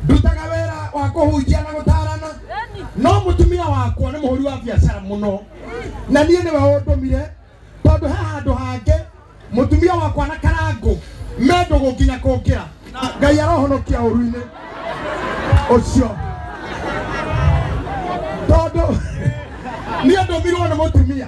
ndutaga wĩra wa kũhunjia na gũtaarana no mũtumia wakwa nĩ mũhũri wa biacara mũno na niĩ nĩwe ũndũmire tondũ he handũ hangĩ mũtumia wakwa na karangũ me ndũgũ nginya kũngĩra ngai arohonokia ũru-inĩ ũcio tondũ niĩ ndũmirwo nĩ mũtumia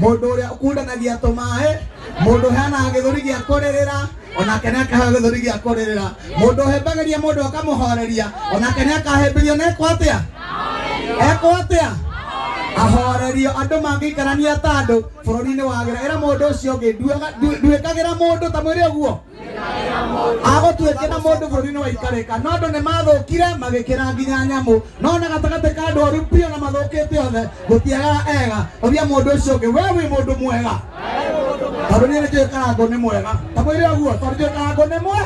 mũndũ ũrĩa ũkundanagia tũmaĩ mũndũ ũheanaga gĩthũri gĩa kũrĩrĩra onake nĩ akaheo gĩthũri gĩa kũrĩrĩra mũndũ ũhembagĩria mũndũ akamũhoreria onake nĩ akahemberio na ekwo atĩa ekwo atĩa ahorerio andũ mangĩikarania ta andũ bũrũri-inĩ wagĩra ĩra mũndũ ũcio ũngĩ nduaga- ndu- nduĩkagĩra mũndũ ta mwĩrĩ ũguo agũtuĩke na mũndũ bũrũri-inĩ wa ikarĩka no andũ nĩ mathũkire magĩkĩra nginya nyamũ no na gatagatĩ ka andũ oru biũ na mathũkĩte othe gũtiagaga ega ũria mũndũ ũcio ũngĩ we wĩ mũndũ mwega tondũ niĩ nĩkĩo karango nĩ mwega ta mwĩrĩ ũguo tondũ nĩkĩo karango nĩ mwe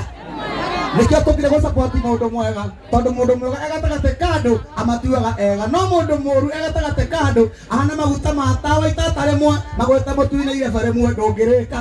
nĩkĩo tũkire gũcapoti mũndũ mwega tondũ mũndũ mwega e gatagatĩ ka andũ amatuaga ega no mũndũ mũru e gatagatĩ ka andũ ahana maguta ma tawa itata rĩmwe magweta mũtu-inĩ irebe rĩmwe ndũngĩrĩka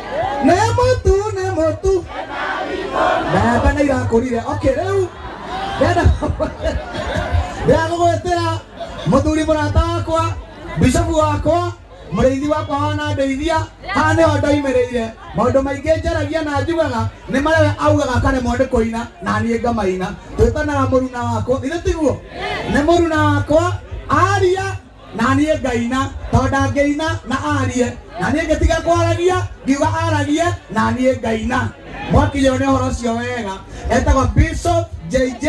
nĩ mũtu nĩ mũtu mbembe nĩ irakũrire okay rĩu ndenda ndenda gũgwĩtĩra mũthuri mũrata wakwa bishopu wakwa mũrĩithi wakwa wanandeithia haha nĩho ndoimĩrĩire maũndũ maingĩ njaragia na njugaga nĩ marĩa we augaga akaremwo nĩ kũina na niĩ ngamaina twĩtanaga mũruna wakwa ithe tiguo nĩ mũruna wakwa aria na niĩ ngaina tondũ ndangĩina na arie na niĩ ngĩtiga kwaragia ngiuga aragie na niĩ ngaina mwakinyĩrwo nĩ ũhoro ũcio wega etagwo bishop jj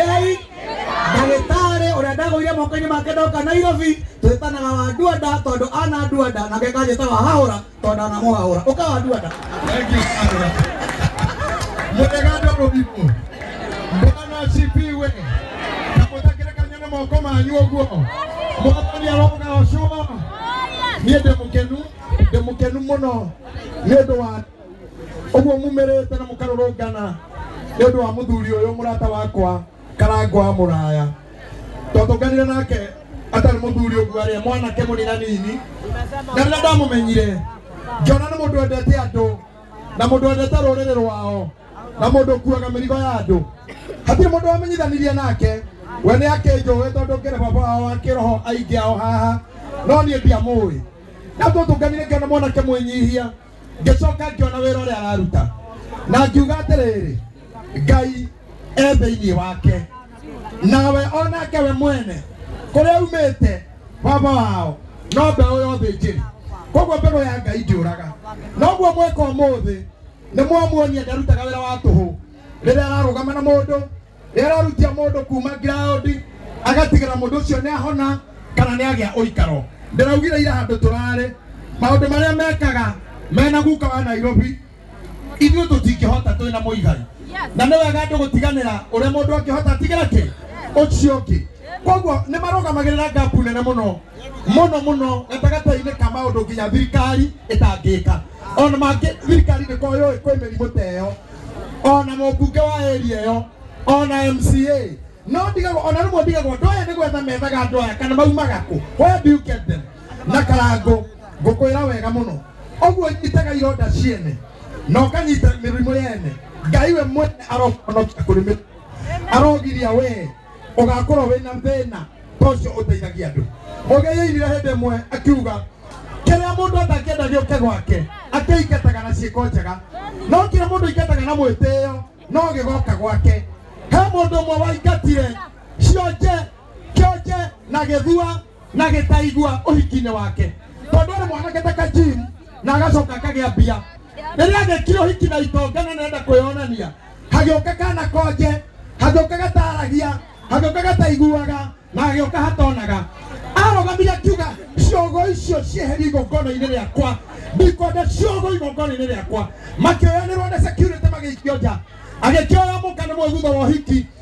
ndagĩtarĩ ũrĩa ndagũire moko-inĩ make ndoka nairobi twĩtanaga wa nduanda tondũ ana nduanda nake kanjĩtaga hahũra tondå na mwahå ra å kawanduana mutegando rurimo mwana asifiwe na mutakĩrekania na moko manyu ũguo mwathani aroga ũcũma niĩ ndĩ mũkenu ndĩ mũkenu mũno nĩ ũndũ wa ũguo mumĩrĩte na mũkarũrũngana nĩ ũndũ wa mũthuri ũyũ mũrata wakwa karangũ wa mũraya twatũnganire nake atarĩ mũthuri ũguo arĩ mwanake mũnina nini na rĩrĩa ndamũmenyire ngĩona nĩ mũndũ wendete andũ na mũndũ wendete rũrĩrĩ rwao na mũndũ ũkuaga mĩrigo ya andũ hatirĩ mũndũ wamenyithanirie nake we nĩ akĩnjũĩ tondũ ngĩrĩ baba wao wa kĩroho aingĩ ao haha no niĩ ndiamũĩ na twatũnganire ngĩona mwanake mwĩnyihia ngĩcoka ngĩona wĩra ũrĩa araruta na ngiuga atĩrĩrĩ ngai e thĩinĩ wake nawe onake we mwene kũrĩa umĩte baba wao no mbeũ yothe njĩrĩ koguo mbegũ ya ngai ndĩũraga noguo mweka ũmũthĩ nĩ mwamuonia ndarutaga wĩra wa tũhũ rĩrĩa ararũgama na mũndũ nĩ ararutia mũndũ kuma ground agatigĩra mũndũ ũcio nĩ ahona kana nĩ agĩa ũikaro ndĩraugire ira handũ tũrarĩ maũndũ marĩa mekaga mena guka wa nairobi ithuĩ tũtingĩhota twĩ na mũigai na nĩ wega andũ gũtiganĩra ũrĩa mũndũ angĩhota atigĩra kĩ ũcio ũngĩ koguo nĩ marũgamagĩrĩra ngapu nene mũno mũno mũno gatagatĩ-inĩ ka maũndũ nginya thirikari ĩtangĩka ona mangĩ thirikari nĩ koyũĩ kwĩ mĩrimũ ta ĩyo ona mũmbunge wa area ĩyo ona mca no ndigagwo ona rĩmwe ndigagwo andũ aya nĩ gwetha methaga andũ aya kana maumaga kũ where do you get them na karango ngũkwĩra wega mũno ũguo nyitaga ironda ciene na ũkanyita mĩrimũ yene ngai we mwene arohonokia kũrĩ mĩrimũ arogiria wee ũgakorwo wĩna thĩna ta ũcio ũteithagia andũ mũgeyeirire hĩndĩ ĩmwe akiuga kĩrĩa mũndũ atangĩenda gĩũke gwake akĩingataga na ciĩko njega no kĩrĩa mũndũ aingataga na mwĩtĩo no gĩgoka gwake he mũndũ ũmwe waingatire cionje kĩonje na gĩthua na gĩtaigua ũhikinĩ wake tondũ arĩ mwanake ta kajim na agacoka akagĩa mbia rĩrĩa agĩkire ũhiki na itonga na nenda kwĩyonania hagĩũka kana konje hagĩũka gataragia hagĩũka gataiguaga na hagĩũka hatonaga arogamire akiuga ciogo icio cieherie igongona-inĩ rĩakwa ndikwenda ciogo igongona-inĩ rĩakwa makĩoyanĩrwo na security magĩikio nja agĩkĩoya mũka nĩ mwĩgutho wa ũhiki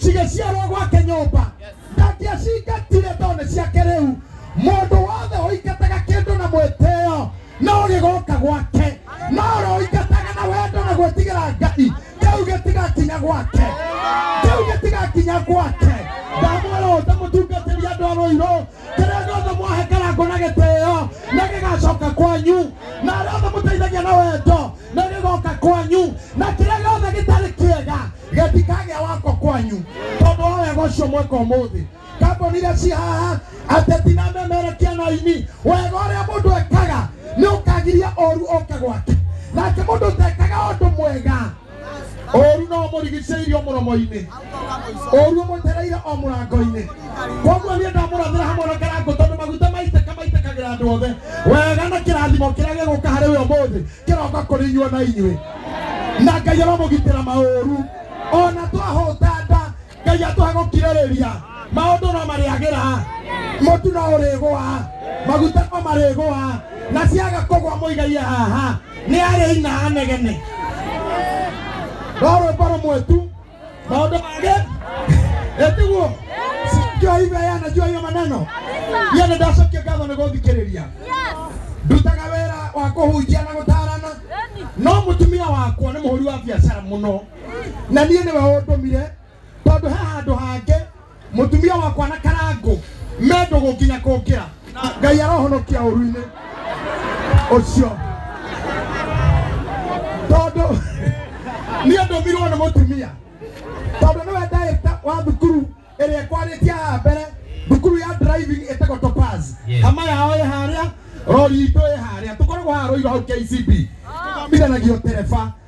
cigĩciarwo gwake nyũmba ndangĩacingatire tondũ nĩ ciake rĩu mũndũ wothe ũingataga kĩndũ na mwĩtĩo no gĩgoka gwake no ũroingataga na wendo na gwĩtigĩra ngai kĩu gĩtigakinya gwake kĩu gĩtigakinya gwake ndamwĩra ũte mũtungatĩri andũ a rũirũ kĩrĩa gĩothe mwahekarangwo na gĩtĩo na gĩgacoka kwanyu na arĩa othe mũteithagia na wendo na gĩgoka kwanyu na kĩrĩa gĩothe gĩtarĩ kĩega getikagĩa wako kwanyu tondũ wa wega ũcio mweka ũmũthĩ kamboni iria ci haha ateti na memerekia na aini wega ũrĩa mũndũ ekaga nĩ ũkagiria ũru ũke gwake nake mũndũ ũtekaga ũndũ mwega ũru no mũrigicĩirio mũromo-inĩ ũru ũmũtereire o mũrango-inĩ koguo niĩ ndamũrathĩra hamwe na karango tondũ maguta maitĩka maitĩkagĩra andũ othe wega na kĩrathimo kĩrĩa gĩgũka harĩ we ũmũthĩ kĩroka kũrĩ inyuo na inyuĩ na ngai aromũgitĩra maũru ona twahũta nda ngai atũhe gũkirĩrĩria maũndũ no marĩagĩra mũtu no ũrĩgũa maguta no marĩgũa na ciaga kũgwa mũigaie haha nĩ arĩ ina anegene rorwĩmbo rũmwe tu maundu mage etiguo ndio hivyo yeye anajua hiyo maneno yeye ndio ndacokia ngatho nĩ gũthikĩrĩria ndutaga wĩra wa kũhunjia na gũtaarana no mũtumia wakwa nĩ mũhũri wa biacara mũno na niĩ nĩwe ũndũmire tondũ he handũ hangĩ Mũtumia wakwa na karangũ me ndũgũ nginya kũngĩra. Ngai arohonokia ũru-inĩ ũcio tondũ niĩ ndũmirwo nĩ mũtumia tondũ nĩwe director wa thukuru ĩrĩa ĩkwarĩtie haha mbere thukuru ya driving ĩtagwo Topaz Yes. hama yao ĩ harĩa rori itũ ĩ harĩa tũkoragwo haha Rũirũ hau KCB tũthomithanagio tereba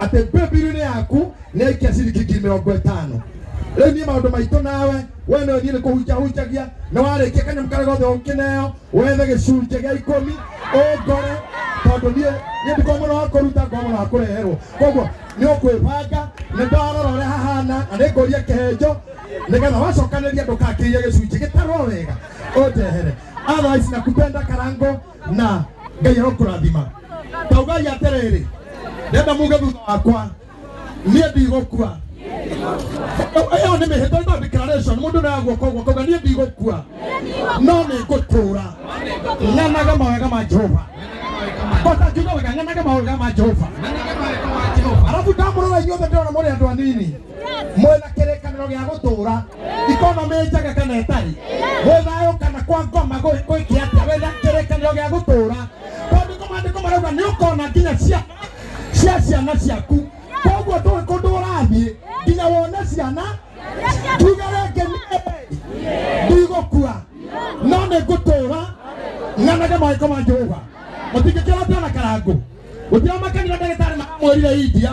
atĩ bibirinĩ yaku nĩ ikia ciringi ngiri mĩrongo ĩtano rĩu niĩ maũndũ maitũ nawe we no thiĩ nĩ kũhunjahunjagia na warĩkia kanyamũ karĩa gothe ũkĩneo wethe gĩcunjĩ gĩa ikũmi ũngore tondũ niĩ niĩ ndikoo mũno wa kũruta ngoo mũno wa kũreherwo koguo nĩ ũkwĩbanga nĩ ndarora ũrĩa hahana na nĩ ngũria kĩhenjo nĩgetha wacokanĩria ndũkakĩirie gĩcunjĩ gĩtarwo wega ũndehere otherwise nakupenda karango na ngai arokũrathima taugai atĩrĩrĩ ndenda muge thutha wakwa niĩ ndigũkua ĩyo nĩ mĩhĩtwa ĩno declaration mũndũ nayagwo koguo kauga niĩ ndigũkua no nĩ ngũtũũra ng'anaga mawega ma jehova kota kiuga wega ng'anaga mawega ma jehova arabu ndamũrora inyuothe ndĩrona mũrĩ andũ anini mwĩna kĩrĩkanĩro gĩa gũtũũra ikonomĩ njega kana ĩtarĩ wĩ thayũ kana kwa ngoma gwĩ- gwĩkĩ atĩa wĩna kĩrĩkanĩro gĩa gũtũũra tondũ nĩko maandĩko marauga nĩ ũkona nginya ciana cia ciana ciaku koguo ndũĩ kũndũ ũrathiĩ nginya wone ciana tuga rĩngĩ nĩ ndigũkua no nĩ ngũtũũra nganage mawĩko ma jehova mũtingĩkĩra twana karangu gũtiramakania ndagĩtarĩ maramwĩrire india